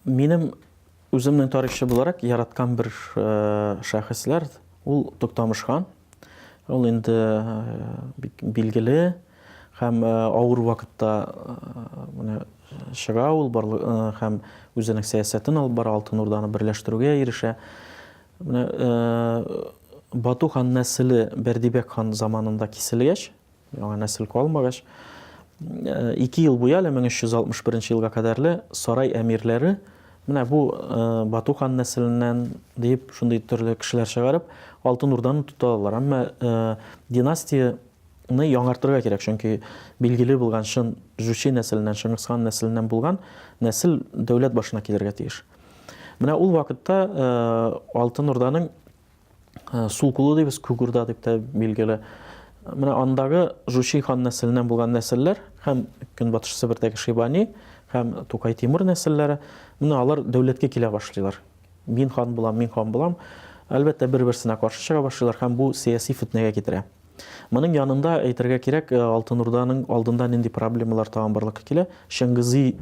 Минем үземнең тарихчы буларак яраткан бер э, шәхесләр ул Туктамыш хан. Ул инде э, билгеле һәм э, авыр вакытта менә чыга ул һәм үзенең сәясәтен алып бара, Алтын Урданы берләштерүгә ирешә. Менә Бату хан нәселе Бәрдибәк хан заманында киселгәч, яңа нәсел калмагач, ике ел буе әле 1361 елга кадәрле сарай әмирләре менә бу Бату хан нәселеннән дип шундый төрле кешеләр чыгарып, Алтын Урданы тота алалар. Әмма династия ны яңартырга кирәк, чөнки билгеле булган чын Жучи нәселеннән, Шыңгысхан нәселеннән булган нәсел дәүләт башына килергә тиеш. Менә ул вакытта Алтын Урданың сул кулы дибез, күк урда дип тә билгеле. Менә андагы Жучи хан нәселеннән булган нәселләр һәм Көнбатыш Себердәге Шибани һәм Тукай Тимур нәселләре, менә алар дәүләткә килә башлыйлар. Мин хан булам, мин хан булам. Әлбәттә, бер-берсенә каршы чыга башлыйлар һәм бу сәяси фетнәгә китерә. Моның янында әйтергә кирәк, э, Алтын Урданың алдында нинди проблемалар тагын барлыкка килә. Чыңгызый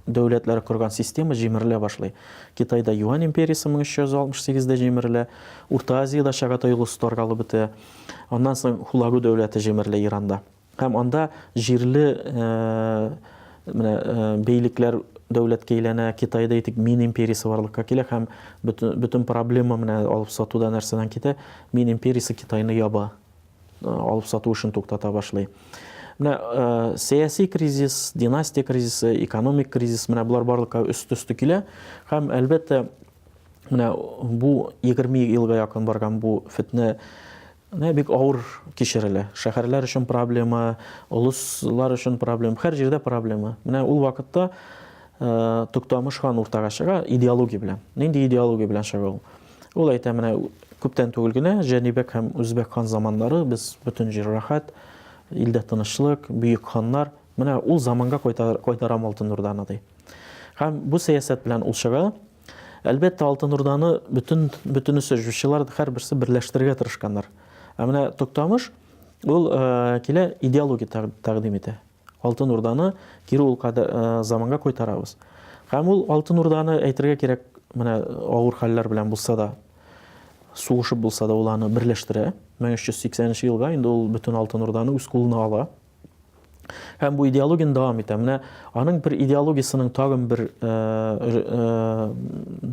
дәүләтләре корган система җимерелә башлый. Китайда Юань империясе 1368-дә җимерелә, Урта Азиядә Чагатай улусы таркалып бетә. Аннан соң Хулагу дәүләте җимерелә Иранда. Һәм анда җирле э, Менә бейлекләр дәүләткә әйләнә, Китайда әйтик, мин империясе барлыкка килә һәм бөтен проблема менә алып сатуда нәрсәдән китә? Мин империясе Китайны яба. Алып сату эшен туктата башлый. Менә сәяси кризис, династия кризисы, экономик кризис, менә болар барлыкка өст-өсте килә һәм әлбәттә менә бу 20 елга якын барган бу фетнә Менә бик авыр кичерелә. Шәһәрләр өчен проблема, олыслар өчен проблема, һәр җирдә проблема. Менә ул вакытта Туктамыш хан уртага чыга идеология белән. Нинди идеология белән чыга ул? Ул әйтә, менә күптән түгел генә Җәнибәк һәм Үзбәк хан заманнары без бөтен җир рәхәт, илдә тынычлык, бөек ханнар. Менә ул заманга кайтарам Алтын Урданы ди. Һәм бу сәясәт белән ул чыга. Әлбәттә, Алтын Урданы бөтен бөтенесе җүчеләр һәрберсе берләштерергә тырышканнар. Ә менә Токтамыш ул э, килә идеология тәкъдим итә. Алтын Урданы кире ул э, заманга кайтарабыз. Һәм ул Алтын Урданы әйтергә кирәк, менә авыр хәлләр белән булса да, сугышып булса да ул аны берләштерә. 1380 елга инде ул бөтен Алтын Урданы үз кулына ала. Һәм бу идеологияне дәвам итә. Менә аның бер идеологиясенең тагын бер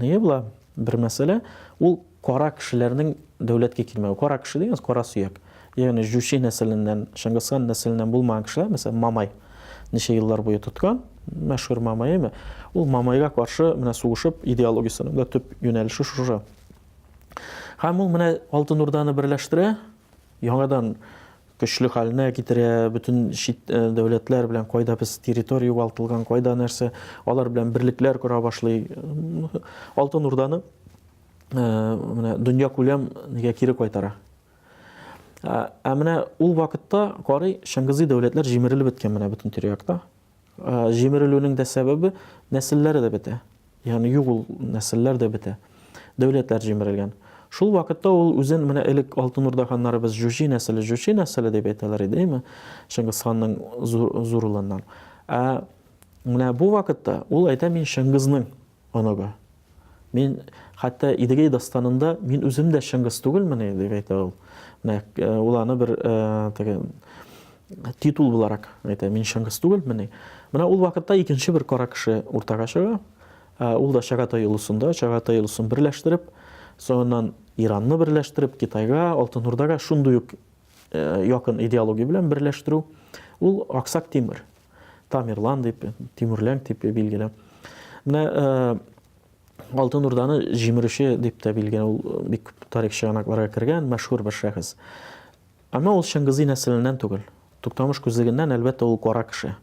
ние була, бер мәсьәлә, ул кара кешеләрнең дәүләткә килмәве. Кара кеше дигәнс кара сөяк. Ягъни Жучи нәселеннән, Шыңгысхан нәселеннән булмаган кешеләр, мәсәлән, Мамай ничә еллар буе тоткан, мәшһүр Мамайымы, ул Мамайга каршы менә сугышып идеологиясенең дә төп юнәлеше шушы. Һәм ул менә Алтын Урданы берләштерә, яңадан көчле хәленә китерә, бөтен чит дәүләтләр белән кайда без территория югалтылган, кайда нәрсә, алар белән берлекләр кора башлый. Алтын Урданы менә дөнья күләм нигә кире кайтара. Ә менә ул вакытта карый Чыңгызый дәүләтләр җимерелеп беткән менә бөтен тирә-якта. Җимерелүнең дә сәбәбе, нәселләр дә бетә. Ягъни юк ул нәселләр дә бетә. Дәүләтләр җимерелгән. Шул вакытта ул үзен менә элек Алтын Урда ханнарыбыз Җүҗи нәселе, Җүчи нәселе дип әйтәләр иде, әйме? Чыңгыз ханның зур улыннан. Ә менә бу вакытта ул әйтә, мин Чыңгызның Оныгы. Мин, хәтта Идегәй дастанында мин үзем дә Чыңгыз түгелмени, дип әйтә ул. Менә э, ул аны бер э, теге титул буларак әйтә, мин Чыңгыз түгелмени. Менә ул вакытта икенче бер кара кеше уртага чыга. Э, ул да Чагатай улысында, Чагатай улысын берләштереп, соңыннан Иранны берләштереп, Китайга, Алтын Урдага шундый ук якын идеология белән берләштерү, ул Аксак Тимер. Тамерлан дип, Тимүрлән дип билгеле. Менә Алтын Урданы җимерүче дип тә билгеле, ул бик күп тарих чыганакларга кергән, мәшһүр бер шәхес. Әмма ул Чыңгызый нәселеннән түгел. Туктамыш күзлегеннән, әлбәттә, ул кара кеше.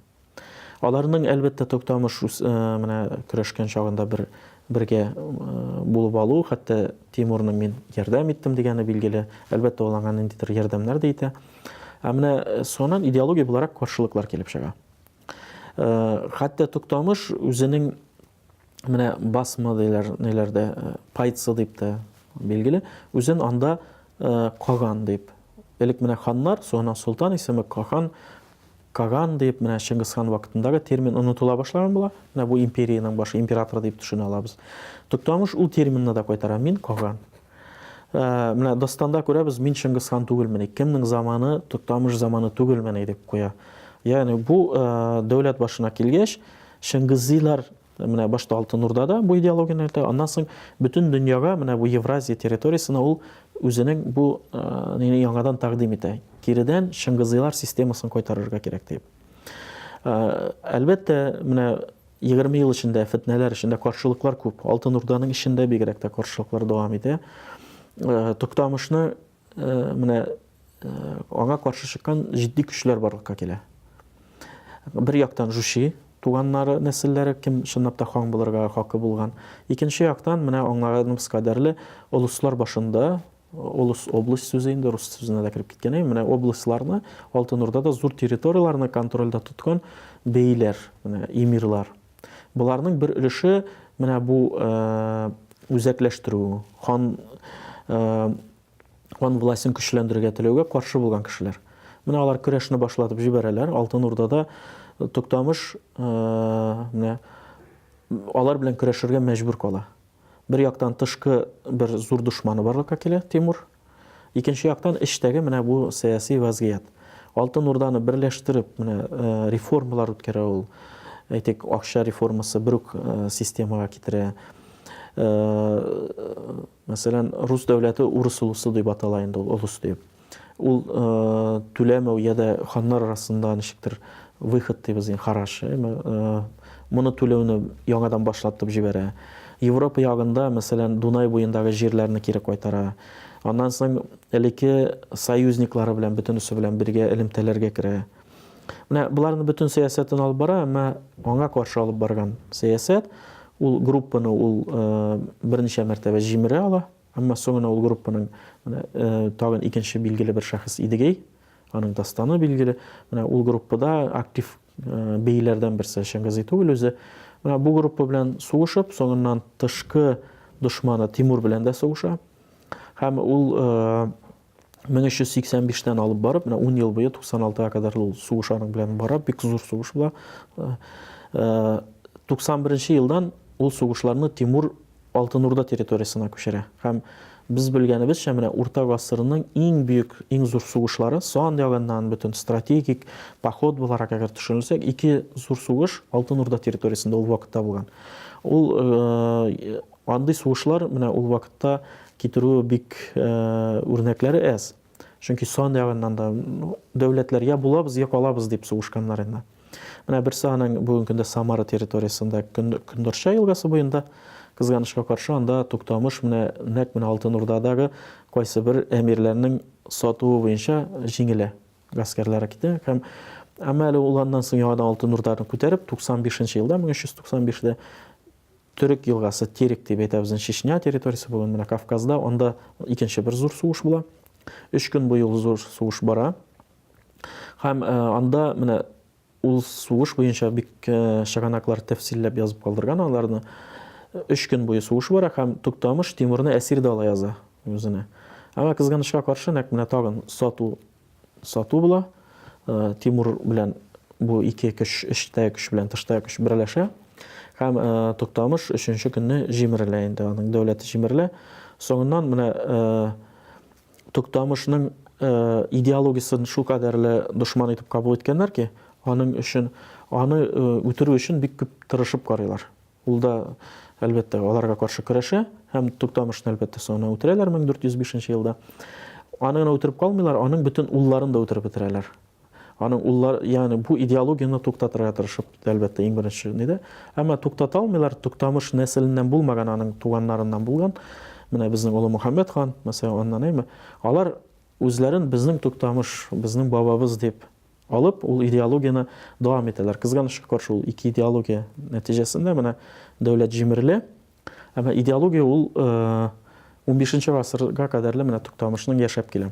Аларның, әлбәттә, Туктамыш менә көрәшкән чагында бер бергә булып алу, хәтта Тимурны мин ярдәм иттем дигәне билгеле. Әлбәттә, ул аңа ниндидер ярдәмнәр дә итә. Ә менә соңыннан идеология буларак каршылыклар килеп чыга. Хәтта Туктамыш үзенең менә басма диләр, ниләрдә, э, пайцы дип тә билгеле, үзен анда э, Каган дип. Элек менә ханнар, соңыннан солтан исеме Кахан, Каган дип, менә Чингис хан вакытындагы термин онытыла башлаган була. Менә бу империянең башы император дип төшенә алабыз. Туктамыш ул терминны да кайтара, мин Каган. Ә, менә дастанда күрәбез, мин Чыңгыз хан түгелмени, кемнең заманы, Токтамыш заманы түгелмени дип куя. Ягъни бу ә, дәүләт башына килгәч, Чыңгызилар менә башта Алтын Урдада бу идеологияне әйтә, аннан соң бөтен дөньяга, менә бу Евразия территориясенә ул үзенең бу ә, яңадан тәкъдим итә. Киредән Чыңгызилар системасын кайтарырга кирәк дип. Әлбәттә, менә Егерме ел эчендә фетнәләр эчендә каршылыклар күп. Алтын Урданың эчендә бигрәк тә каршылыклар дәвам итә. Э, Туктамышны э, менә э, аңа каршы чыккан җитди көчләр барлыкка килә. Бер яктан Жуши туганнары, нәселләре кем чынлап та хан булырга хакы булган. Икенче яктан менә аңарның кадәрле олыслар башында Олыс, область сүзе инде рус сүзенә дә кереп киткән. Әй, менә областьларны, Алтын Урдада зур территорияләрне контрольдә тоткан бейләр, менә эмирлар. Боларның бер өлеше менә бу үзәкләштерү, хан хан властен көчләндерергә теләүгә каршы булган кешеләр. Менә алар көрәшне башлатып җибәрәләр. Алтын Урдада Туктамыш менә алар белән көрәшергә мәҗбүр кала. Бер яктан тышкы бер зур дошманы барлыкка килә, Тимур. Икенче яктан эчтәге менә бу сәяси вазгыять. Алтын Урданы берләштереп, менә реформалар үткәрә ул. Әйтик, акча реформасы бер үк системага китерә. Мәсәлән, рус дәүләте урыс улысы дип атала инде ул, олус дип. Ул түләмәү я да ханнар арасында ничектер выход дибез инде, хараш. Моны түләүне яңадан башлатып җибәрә. Европа ягында, мәсәлән, Дунай буендагы җирләрне кире кайтара. Аннан соң элекке союзниклары белән бөтенесе белән бергә элемтәләргә керә. Менә боларның бөтен сәясәтен алып бара, әмма аңа каршы алып барган сәясәт ул группаны ул берничә мәртәбә җимерә ала. Әмма соңына ул группаның менә тагын икенче билгеле бер шәхес Идегей, аның дастаны билгеле. Менә ул группада актив бейләрдән берсе Шәмгазый түгел үзе. Менә бу группа белән сугышып, соңыннан тышкы дошманы Тимур белән дә сугыша. Һәм ул 1385 тән алып барып, менә 10 ел буе 96 га кадәр ул сугыш аның белән бара, бик зур сугыш була. 91 э, э, елдан ул сугышларны Тимур Алтын Урда территориясенә күчерә. Һәм без белгәнебезчә, менә урта гасырның иң бөек, иң зур сугышлары, сан ягыннан бөтен стратегик поход буларак әгәр төшенелсәк, ике зур сугыш Алтын Урда территориясендә ул вакытта булган. Ул э, Андый сугышлар менә ул вакытта китерү бик үрнәкләре әз. Чөнки сан ягыннан да дәүләтләр я булабыз, я калабыз дип сугышканнар инде. Менә берсе аның бүгенге көндә Самара территориясендә Көндорча елгасы буенда кызганычка каршы анда Туктамыш менә нәкъ менә Алтын Урдадагы кайсы бер әмирләрнең сатуы буенча җиңелә. Гаскәрләре китә һәм әмма әле ул аннан соң яңадан Алтын Урданы күтәреп 95 нче елда 1395-дә Төрек елгасы, Терек дип әйтәбез ин, Чечня территориясе бүген менә Кавказда, анда икенче бер зур сугыш була. Өч көн буе ул зур сугыш бара. Һәм э, анда менә ул сугыш буенча бик э, чыганаклар тәфсилләп язып калдырган аларны. Өч көн буе сугыш бара һәм Туктамыш Тимурны әсир дә ала яза үзенә. Әмма кызганычка каршы, нәкъ менә тагын сату сату була. Тимур белән бу ике көч, эчтә көч белән тышта көч берләшә. Һәм Туктамыш өченче көнне җимерелә инде, аның дәүләте җимерелә. Соңыннан менә Туктамышның идеологиясен шул кадәрле дошман итеп кабул иткәннәр ки, аның өчен, аны үтерү өчен бик күп тырышып карыйлар. Ул да, әлбәттә, аларга каршы көрәшә һәм Туктамышны, әлбәттә, соңыннан үтерәләр 1405 нче елда. Аны гына үтереп калмыйлар, аның бөтен улларын да үтереп бетерәләр. Аның уллар, ягъни бу идеологияне туктатырга тырышып, әлбәттә, иң беренче нидә. Әмма туктата алмыйлар, Туктамыш нәселеннән булмаган, аның туганнарыннан булган. Менә безнең Олы Мөхәммәд хан, мәсәлән, аннан әйме. Алар үзләрен безнең Туктамыш, безнең бабабыз дип Алып, ул идеологияне дәвам итәләр. Кызганычка каршы, ул ике идеология нәтиҗәсендә менә дәүләт җимерелә. Ә менә идеология ул унбишенче гасырга кадәрле менә Туктамышның яшәп килә.